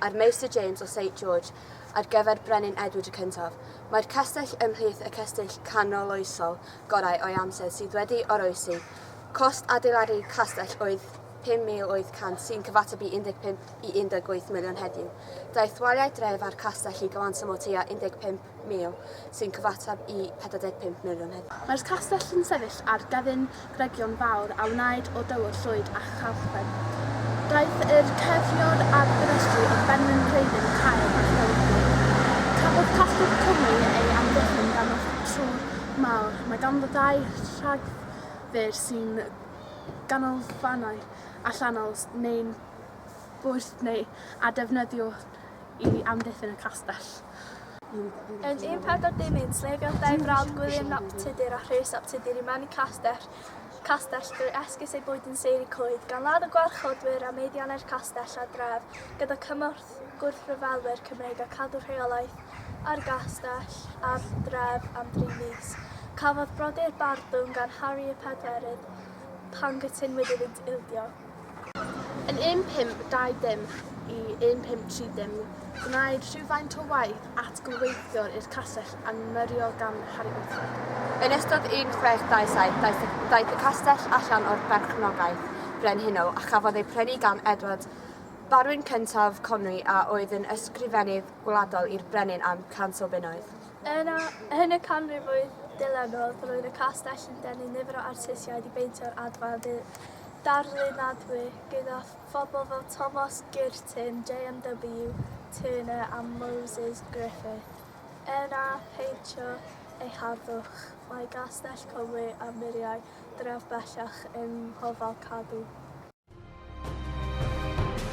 ar Meister James o Saint George ar gyfer Brenin Edward y Cyntaf. Mae'r castell ymhlith y cestyll canoloesol gorau o'i amser sydd wedi oroesi. Cost adeiladu'r castell oedd 5,800 sy'n cyfateb i 15 i 18 miliwn heddiw. Daeth waliau dref a'r castell i gyfanswm o tua 15 mil, sy'n cyfateb i 45 miliwn heddiw. Mae'r castell yn sefyll ar gefn gregion fawr a wnaed o dywod llwyd a chalchben. Daeth yr ceirniwr a'r ffenestri o benrhyn Rheilyn Caer a Chewrlli. Cafodd Catholic Cymru ei amddiffyn gan y Trwr Mawr. Mae ganddo ddau rhagfyr sy'n ganolfannau allanol neu'n bwrdd neu a defnyddiwn i amddiffyn y castell. Yn 1410 yn sleifiodd dau frawd Gwilym nap Tudur a Rhys ap Tudur i mewn i castell, castell drwy esgus ei bwyd yn seiri coed, gan ladd y gwarchodwyr a meiddiannau'r castell a dref, gyda cymorth gwrthryfelwyr Cymreig a cadw rheolaeth ar gastell a'r dref am dri mis. Cafodd brodyr barddwng gan Harri y Pedwerydd pan gytunwyd iddynt ildio. Yn 1520 i 1530 gwnaed rhywfaint o waith atgyfreithiol i'r castell a myriwyd gan Harri Beecham. Yn ystod 1627 daeth y daeth y castell allan o'r berchnogaeth frenhinol a chafodd ei prynu gan Edward, barwn cyntaf Conwy a oedd yn ysgrifennydd gwladol i'r brenin am 100 o bunnoedd. Yn a- yn y canrifoedd dilynol roedd y castell yn denu nifer o artistiaid i beintio'r adfail ddu- darlunadwy gyda phobl fel Tomos Girton, JMW, Turner a Moses Griffith. Er na pheintio ei harddwch, mae Gastell Cymru a muriau dref bellach eu hofal cadw.